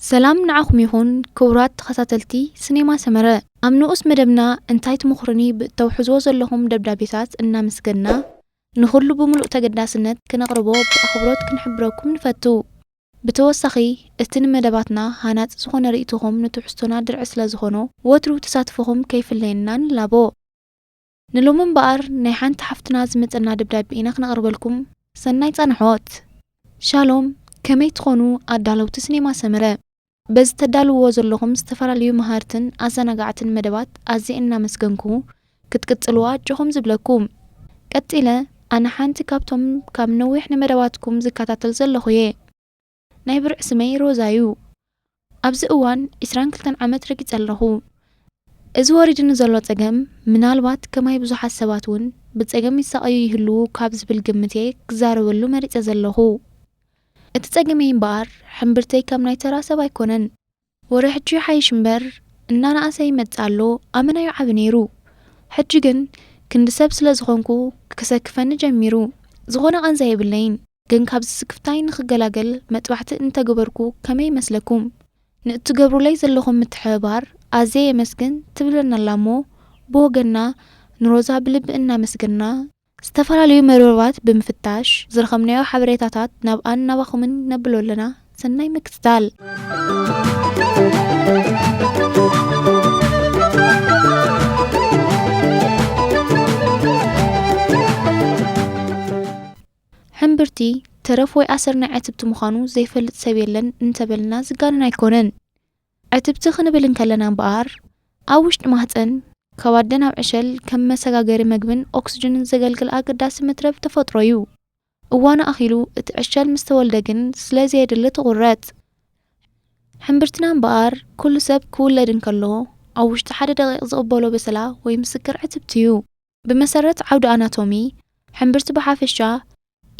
ሰላም ንዓኹም ይኹን ክቡራት ተኸታተልቲ ስኔማ ሰመረ ኣብ ንኡስ መደብና እንታይ ትምኽሩኒ ብእተውሕዝዎ ዘለኹም ደብዳቤታት እናመስገንና ንኹሉ ብምሉእ ተገዳስነት ክነቕርቦ ብኣኽብሮት ክንሕብረኩም ንፈቱ ብተወሳኺ እቲ ንመደባትና ሃናጺ ዝኾነ ርእይቶኹም ንትሕዝቶና ድርዒ ስለ ዝኾኖ ወትሩ ተሳትፎኹም ከይፍለየና ንላቦ። ንሎሚ እምበኣር ናይ ሓንቲ ሓፍትና ዝመጸና ደብዳቤ ኢና ክነቕርበልኩም። ሰናይ ጻንሖት። ሻሎም ከመይ ትኾኑ ኣዳለውቲ ስኔማ ሰመረ። በዚ ተዳልውዎ ዘለኹም ዝተፈላለዩ መሃርትን ኣዘናጋዕትን መደባት ኣዝየ እናመስገንኩ ክትቅጽልዎ ኣጆኹም ዝብለኩም። ቀጺለ ኣነ ሓንቲ ካብቶም ካብ ነዊሕ ንመደባትኩም ዝከታተል ዘለኹ እየ። ናይ ብርዒ ስመይ ሮዛ እዩ። ኣብዚ እዋን ዕስራን ክልተን ዓመት ረጊጸ ኣለኹ። እዚ ወሪድኒ ዘሎ ጸገም ምናልባት ከማይ ብዙሓት ሰባት እውን ብጸገም ይሳቐዩ ይህልዉ ካብ ዝብል ግምት እየ ክዛረበሉ መሪጸ ዘለኹ። እቲ ጸገመይ እምበኣር ሕምብርተይ ከም ናይ ተራ ሰብ ኣይኮነን። ወረ ሕጂ ይሓይሽ እምበር እናነኣሰ ይመጽእ ኣሎ ኣመና'ዩ ዓቢ ነይሩ። ሕጂ ግን ክንዲ ሰብ ስለ ዝኾንኩ ክሰክፈኒ ጀሚሩ። ዝኾነ ቃንዛ የብለይን ግን ካብዚ ስክፍታይ ንኽገላገል መጥባሕቲ እንተገበርኩ ከመይ ይመስለኩም? ንእትገብሩለይ ዘለኹም ምትሕብባር ኣዝየ የመስግን ትብለና'ላ'ሞ ብወገንና ንሮዛ ብልቢ እናመስገንና፣ ዝተፈላለዩ መርበባት ብምፍታሽ ዝረኸብናዮ ሓበሬታታት ናብኣን ናባኹምን ነብሎ ኣለና። ሰናይ ምክትታል። ሕምብርቲ፣ ተረፍ ወይ ኣሰር ናይ ዕትብቲ ምዃኑ ዘይፈልጥ ሰብ የለን እንተበልና ዝጋነን ኣይኮነን። ዕትብቲ ክንብል እንከለና እምበኣር፣ ኣብ ውሽጢ ማህጸን፣ ካብ ኣደ ናብ ዕሸል፣ ከም መሰጋገሪ መግብን ኦክስጅንን ዘገልግል ኣገዳሲ መትረብ ተፈጥሮ'ዩ። እዋኑ ኣኺሉ እቲ ዕሸል ምስ ተወልደ ግን ስለ ዘየድሊ ትቑረጽ። ሕምብርትና እምበኣር፣ ኩሉ ሰብ ክውለድ እንከሎ፣ ኣብ ውሽጢ ሓደ ደቒቕ ዝቕበሎ በሰላ ወይ ምስክር ዕትብቲ'ዩ። ብመሰረት ዓውዲ ኣናቶሚ፣ ሕምብርቲ ብሓፈሻ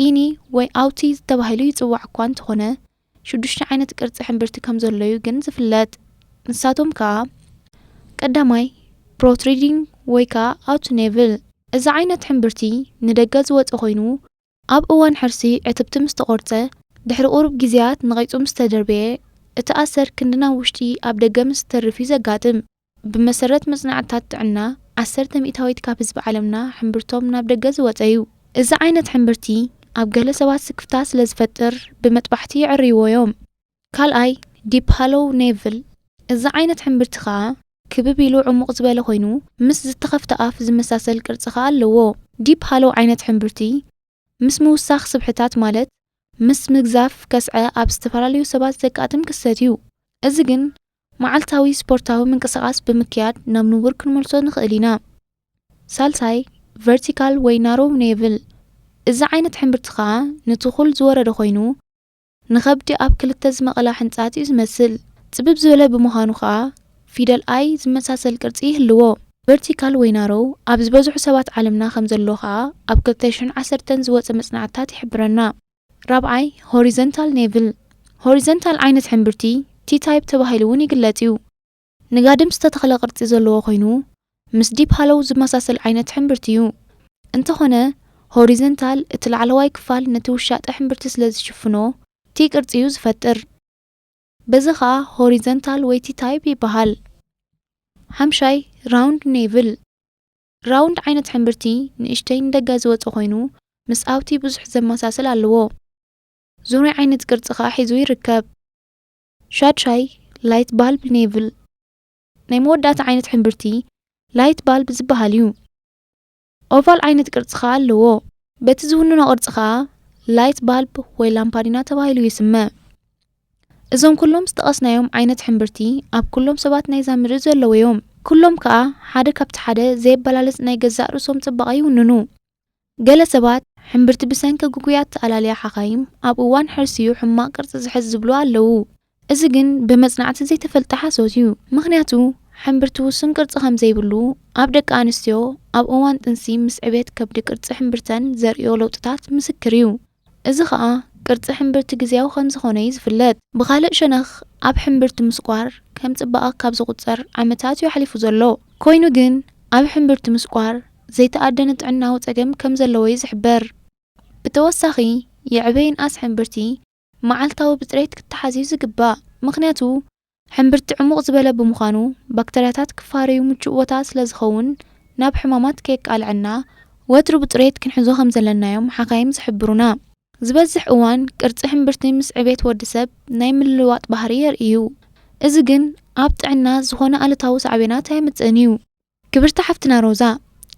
ኢኒ ወይ ኣውቲ ተባሂሉ ይጽዋዕ እኳ እንተኾነ፣ ሽዱሽተ ዓይነት ቅርጺ ሕምብርቲ ከም ዘሎ'ዩ ግን ዝፍለጥ። ንሳቶም ከኣ፣ ቀዳማይ፣ ፕሮትሪዲንግ ወይ ከኣ ኣውቲ ኔቭል። እዚ ዓይነት ሕምብርቲ ንደገ ዝወጸ ኮይኑ፣ ኣብ እዋን ሕርሲ ዕትብቲ ምስ ተቖርጸ፣ ድሕሪ ቁሩብ ግዜያት ነቒጹ ምስ ተደርበየ፣ እቲ ኣሰር ክንዲ ናብ ውሽጢ ኣብ ደገ ምስ ዝተርፍ እዩ ዘጋጥም። ብመሰረት መጽናዕትታት ጥዕና፣ ዓሰርተ ሚእታዊት ካብ ህዝቢ ዓለምና ሕምብርቶም ናብ ደገ ዝወጸ እዩ። እዚ ዓይነት ሕምብርቲ ኣብ ገለ ሰባት ስክፍታ ስለ ዝፈጥር ብመጥባሕቲ የዐርይዎ እዮም። ካልኣይ ዲፕ ሃሎው ኔቭል፣ እዚ ዓይነት ሕምብርቲ ከኣ ክብብ ኢሉ ዕሙቕ ዝበለ ኮይኑ ምስ ዝተኸፍተ ኣፍ ዝመሳሰል ቅርጺ ከኣ ኣለዎ። ዲፕ ሃሎው ዓይነት ሕምብርቲ ምስ ምውሳኽ ስብሕታት ማለት ምስ ምግዛፍ ከስዐ ኣብ ዝተፈላለዩ ሰባት ዘጋጥም ክስተት እዩ። እዚ ግን መዓልታዊ ስፖርታዊ ምንቅስቓስ ብምክያድ ናብ ንቡር ክንመልሶ ንኽእል ኢና። ሳልሳይ ቨርቲካል ወይ ናሮው ኔቭል፣ እዚ ዓይነት ሕምብርቲ ከኣ ንትኹል ዝወረደ ኮይኑ፣ ንኸብዲ ኣብ ክልተ ዝመቐላ ሕንጻጽ እዩ ዝመስል። ጽብብ ዝበለ ብምዃኑ ከኣ ፊደል ኣይ ዝመሳሰል ቅርጺ ይህልዎ። ቨርቲካል ወይ ናሮው ኣብ ዝበዝሑ ሰባት ዓለምና ከም ዘሎ ከኣ ኣብ ክልተ ሽሕን ዓሰርተን ዝወጸ መጽናዕትታት ይሕብረና። ራብዓይ፣ ሆሪዘንታል ኔቭል፣ ሆሪዘንታል ዓይነት ሕምብርቲ፣ T-type፣ ተባሂሉ'ውን ይግለጽ እዩ። ንጋድም ዝተተኽለ ቅርጺ ዘለዎ ኮይኑ፣ ምስ ዲፕ ሃሎው ዝመሳሰል ዓይነት ሕምብርቲ እዩ። እንተኾነ ሆሪዘንታል፣ እቲ ላዕለዋይ ክፋል ነቲ ውሻጠ ሕምብርቲ ስለ ዝሽፍኖ ቲ ቅርጺ እዩ ዝፈጥር። በዚ ከኣ ሆሪዘንታል ወይ ቲ ታይፕ ይበሃል። ሓምሻይ፣ ራውንድ ኔቭል፣ ራውንድ ዓይነት ሕምብርቲ ንእሽተይ ንደገ ዝወጸ ኮይኑ ምስ ኣብቲ ብዙሕ ዘመሳስል ኣለዎ። ዙርያ ዓይነት ቅርጺ ከኣ ሒዙ ይርከብ። ሻድሻይ፣ ላይት ባልብ ኔቭል፣ ናይ መወዳእታ ዓይነት ሕምብርቲ ላይት ባልብ ዝበሃል እዩ። ኦቫል ዓይነት ቅርጺ ከኣ ኣለዎ። በቲ ዝውንኖ ቅርጺ ከኣ ላይት ባልብ ወይ ላምፓዲና ተባሂሉ ይስመ። እዞም ኩሎም ዝጠቐስናዮም ዓይነት ሕምብርቲ ኣብ ኩሎም ሰባት ናይዛ ምድሪ ዘለዉ እዮም። ኩሎም ከኣ ሓደ ካብቲ ሓደ ዘየበላለጽ ናይ ገዛእ ርእሶም ጽባቐ ይውንኑ። ገለ ሰባት ሕምብርቲ ብሰንኪ ግጉያት ተኣላልያ ሓካይም ኣብ እዋን ሕርሲ'ዩ ሕማቕ ቅርጺ ዝሕዝ ዝብሉ ኣለዉ። እዚ ግን ብመጽናዕቲ ዘይተፈልጠ ሓሶት'ዩ። ምኽንያቱ ሕምብርቲ ውሱን ቅርጺ ከም ዘይብሉ፣ ኣብ ደቂ ኣንስትዮ ኣብ እዋን ጥንሲ ምስ ዕብየት ከብዲ ቅርጺ ሕምብርተን ዘርእዮ ለውጥታት ምስክር'ዩ። እዚ ኸኣ ቅርጺ ሕምብርቲ ግዝያዊ ከም ዝዀነ'ዩ ዝፍለጥ። ብኻልእ ሸነኽ ኣብ ሕምብርቲ ምስቋር ከም ጽባቐ ካብ ዝቝጸር ዓመታት'ዩ ኣሕሊፉ ዘሎ። ኰይኑ ግን ኣብ ሕምብርቲ ምስቋር ዘይተኣደነ ጥዕናዊ ጸገም ከም ዘለዎ'ዩ ዝሕበር። ብተወሳኺ ይዕበ ይንኣስ ሕምብርቲ መዓልታዊ ብጽሬት ክተሓዝ'ዩ ዝግባእ። ምኽንያቱ ሕምብርቲ ዕሙቕ ዝበለ ብምዃኑ ባክተርያታት ክፋረዩ ምቹእ ቦታ ስለዝኸውን ናብ ሕማማት ከየቃልዐና ወትሩ ብጽሬት ክንሕዞ ከምዘለና'ዮም ሓካይም ዝሕብሩና። ዝበዝሕ እዋን ቅርጺ ሕምብርቲ ምስ ዕቤት ወዲ ሰብ ናይ ምልውዋጥ ባህሪ የርኢ'ዩ። እዚ ግን ኣብ ጥዕና ዝኾነ ኣሉታዊ ሳዕቤናት ኣየምጽእን'ዩ። ክብርቲ ሓፍትና ሮዛ፣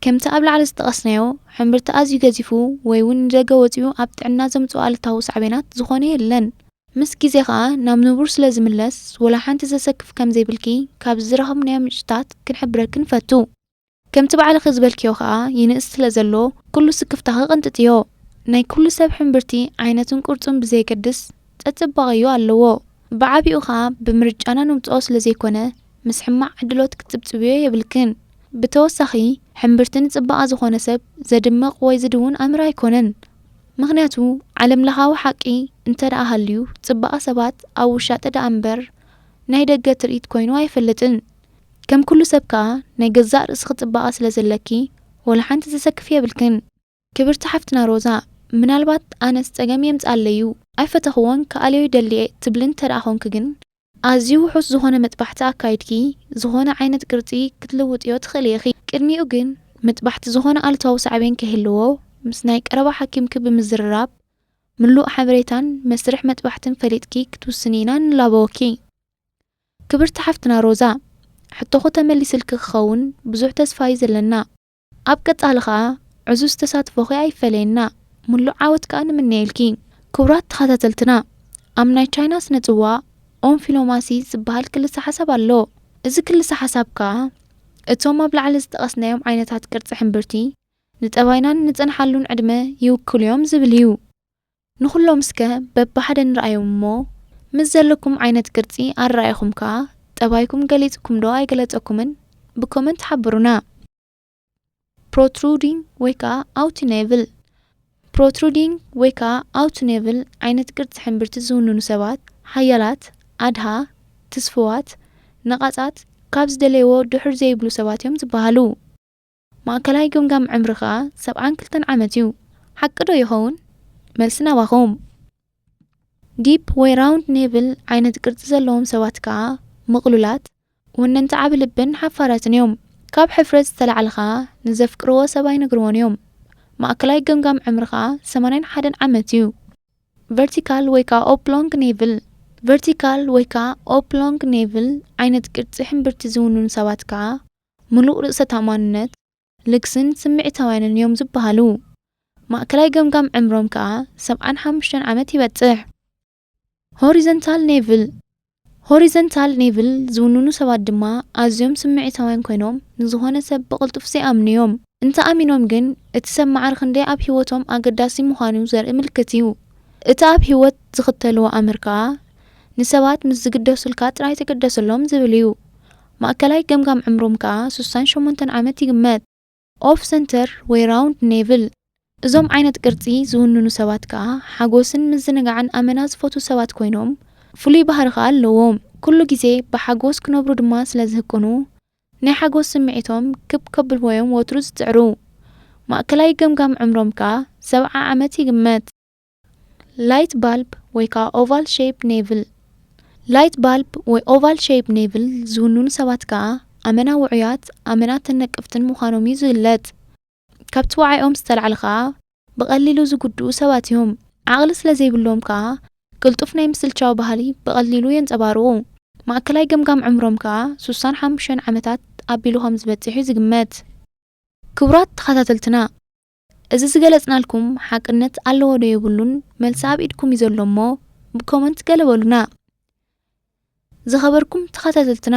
ከምቲ ኣብ ላዕሊ ዝጠቐስናዮ፣ ሕምብርቲ ኣዝዩ ገዚፉ ወይ'ውን ንደገ ወጺኡ ኣብ ጥዕና ዘምጽኦ ኣሉታዊ ሳዕቤናት ዝኾነ የለን። ምስ ግዜ ከኣ ናብ ንቡር ስለ ዝምለስ ወላ ሓንቲ ዘሰክፍ ከም ዘይብልኪ ካብዚ ዝረኸብናዮ ምንጭታት ክንሕብረኪ ንፈቱ። ከምቲ ባዕልኺ ዝበልክዮ ከኣ ይንእስ ስለ ዘሎ ኩሉ ስክፍታኺ ቐንጥጥዮ። ናይ ኩሉ ሰብ ሕምብርቲ ዓይነቱን ቅርጹን ብዘየገድስ፣ ጸጽባቐ'ዩ ኣለዎ። ብዓቢኡ ከኣ ብምርጫና ንምጽኦ ስለ ዘይኮነ ምስ ሕማቕ ዕድሎት ክትጽብጽብዮ የብልክን። ብተወሳኺ ሕምብርቲ ንጽባቐ ዝኾነ ሰብ ዘድምቕ ወይ ዝድውን ኣምር ኣይኮነን። ምኽንያቱ ዓለምለኻዊ ሓቂ እንተደኣ ሃልዩ ጽባቐ ሰባት ኣብ ውሻጠ ደኣ እምበር ናይ ደገ ትርኢት ኮይኑ ኣይፈልጥን። ከም ኩሉ ሰብ ከኣ ናይ ገዛእ ርእስኺ ጽባቐ ስለ ዘለኪ ወላሓንቲ ዘሰክፍ የብልክን። ክብርቲ ሓፍትና ሮዛ ምናልባት ኣነስ ጸገም የምጻለይ ዩ ኣይፈተክዎን ክኣልዮ ይደሊ'የ ትብሊ እንተድኣ ኮንኪ ግን ኣዝዩ ውሑስ ዝኾነ መጥባሕቲ ኣካይድኪ ዝኾነ ዓይነት ቅርጺ ክትልውጥዮ ትኽእሊ ኢኺ ቅድሚኡ ግን መጥባሕቲ ዝኾነ ኣሉታዊ ሳዕቤን ከይህልዎ ምስ ናይ ቀረባ ሓኪምኪ ብምዝርራብ ምሉእ ሓበሬታን መስርሕ መጥባሕትን ፈሊጥኪ ክትውስኒ ኢና ንላበወኪ ክብርቲ ሓፍትና ሮዛ ሕቶኹ ተመሊስልኪ ክኸውን ብዙሕ ተስፋ'ዩ ዘለና። ኣብ ቀጻሊ ከኣ ዕዙዝ ተሳትፎኺ ኣይፈለየና ምሉእ ዓወት ከኣ ንምነየልኪ። ክቡራት ተኻታተልትና ኣብ ናይ ቻይና ስነ ጽዋ ኦንፊሎማሲ ዝብሃል ክልሰ ሓሳብ ኣሎ እዚ ክልሰ ሓሳብ ከኣ እቶም ኣብ ላዕሊ ዝጠቐስናዮም ዓይነታት ቅርጺ ሕምብርቲ ንጠባይናን ንጸንሓሉን ዕድመ ይውክሉዮም ዝብል እዩ። ንኹሎም እስከ በብሓደ ንርኣዮም እሞ ምስ ዘለኩም ዓይነት ቅርጺ ኣረኣኢኹም ከኣ ጠባይኩም ገሊጽኩም ዶ ኣይገለጸኩምን ብኮመንት ሓብሩና። Protruding ወይ ከኣ Outnavel Protruding ወይ ከኣ Outnavel ዓይነት ቅርጺ ሕምብርቲ ዝውንኑ ሰባት ሓያላት፣ ኣድሃ፣ ትስፉዋት፣ ነቓጻት፣ ካብ ዝደለይዎ ድሑር ዘይብሉ ሰባት እዮም ዝበሃሉ። ማእከላይ ገምጋም ዕምሪ ከኣ ሰብዓን ክልተን ዓመት እዩ። ሓቂ ዶ ይኸውን? መልሲ ናባኹም። ዲፕ ወይ ራውንድ ኔቭል ዓይነት ቅርጺ ዘለዎም ሰባት ከኣ ምቕሉላት፣ ወነንቲ ዓቢ ልብን ሓፋራትን እዮም። ካብ ሕፍረት ዝተላዕለ ከኣ ንዘፍቅርዎ ሰብ ኣይነግርዎን እዮም። ማእከላይ ገምጋም ዕምሪ ከኣ ሰማንያን ሓደን ዓመት እዩ። ቨርቲካል ወይ ከኣ ኦፕሎንግ ኔቭል ቨርቲካል ወይ ከኣ ኦፕሎንግ ኔቭል ዓይነት ቅርጺ ሕምብርቲ ዝውንኑ ሰባት ከኣ ምሉእ ርእሰ-ተኣማንነት፣ ልግስን ስምዒታውያንን እዮም ዝበሃሉ። ማእከላይ ገምጋም ዕምሮም ከኣ ሰብዓን ሓሙሽተን ዓመት ይበጽሕ። ሆሪዘንታል ኔቭል፣ Horizontal Nevel፣ ዝውንኑ ሰባት ድማ ኣዝዮም ስምዒታውያን ኰይኖም ንዝዀነ ሰብ ብቕልጡፍ ዘይኣምኑ እዮም። እንተ ኣሚኖም ግን እቲ ሰብ ማዕረ ክንደይ ኣብ ህይወቶም ኣገዳሲ ምዃኑ ዘርኢ ምልክት እዩ። እቲ ኣብ ህይወት ዝኽተልዎ ኣምር ከኣ ንሰባት ምስ ዝግደሱልካ ጥራይ ተገደሰሎም ዝብል እዩ። ማእከላይ ገምጋም ዕምሮም ከኣ ስሳን ሸሞንተን ዓመት ይግመት። ኦፍ ሰንተር ወይ ራውንድ ኔቭል፣ እዞም ዓይነት ቅርጺ ዝውንኑ ሰባት ከኣ ሓጎስን ምዝንጋዕን ኣመና ዝፈትዉ ሰባት ኮይኖም ፍሉይ ባህሪ ከኣ ኣለዎም። ኩሉ ግዜ ብሓጎስ ክነብሩ ድማ ስለ ዝህቅኑ ናይ ሓጎስ ስምዒቶም ክብ ከብልዎ'ዮም ወትሩ ዝጽዕሩ። ማእከላይ ገምጋም ዕምሮም ከኣ ሰብዓ ዓመት ይግመት። ላይት ባልብ ወይ ከኣ ኦቫል ሸይፕ ኔቭል ላይት ባልብ ወይ ኦቫል ሸይፕ ኔቭል ዝውንኑ ሰባት ከኣ ኣመና ውዑያት ኣመና ተነቅፍትን ምዃኖም እዩ ዝግለጽ። ካብቲ ዋዒኦም ዝተላዕለ ከኣ ብቐሊሉ ዝጉድኡ ሰባት እዮም። ዓቕሊ ስለ ዘይብሎም ከኣ ቅልጡፍ ናይ ምስልቻው ባህሊ ብቐሊሉ የንጸባርቑ። ማእከላይ ገምጋም ዕምሮም ከኣ ሱሳን ሓሙሸን ዓመታት ኣቢሉ ከም ዝበጽሕ እዩ ዝግመት። ክቡራት ተኸታተልትና እዚ ዝገለጽናልኩም ሓቅነት ኣለዎ ዶ የብሉን መልሲ ኣብ ኢድኩም እዩ ዘሎ እሞ ብ ኮመንት ገለ በሉና። ዝኸበርኩም ተኸታተልትና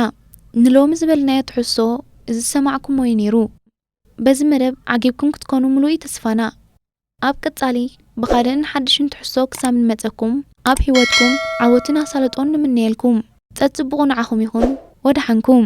ንሎሚ ዝበልናዮ ትሕዝቶ እዚ ዝሰማዕኩሞ እዩ ኔሩ። በዚ መደብ ዓጊብኩም ክትኮኑ ምሉእ እዩ ተስፋና። ኣብ ቀጻሊ ብኻልእን ሓድሽን ትሕዝቶ ክሳብ ንመጸኩም ኣብ ሂወትኩም ዓወትን ኣሳልጦን ንምነየልኩም። ጸጽቡቑ ንዓኹም ይኹን ወደሓንኩም።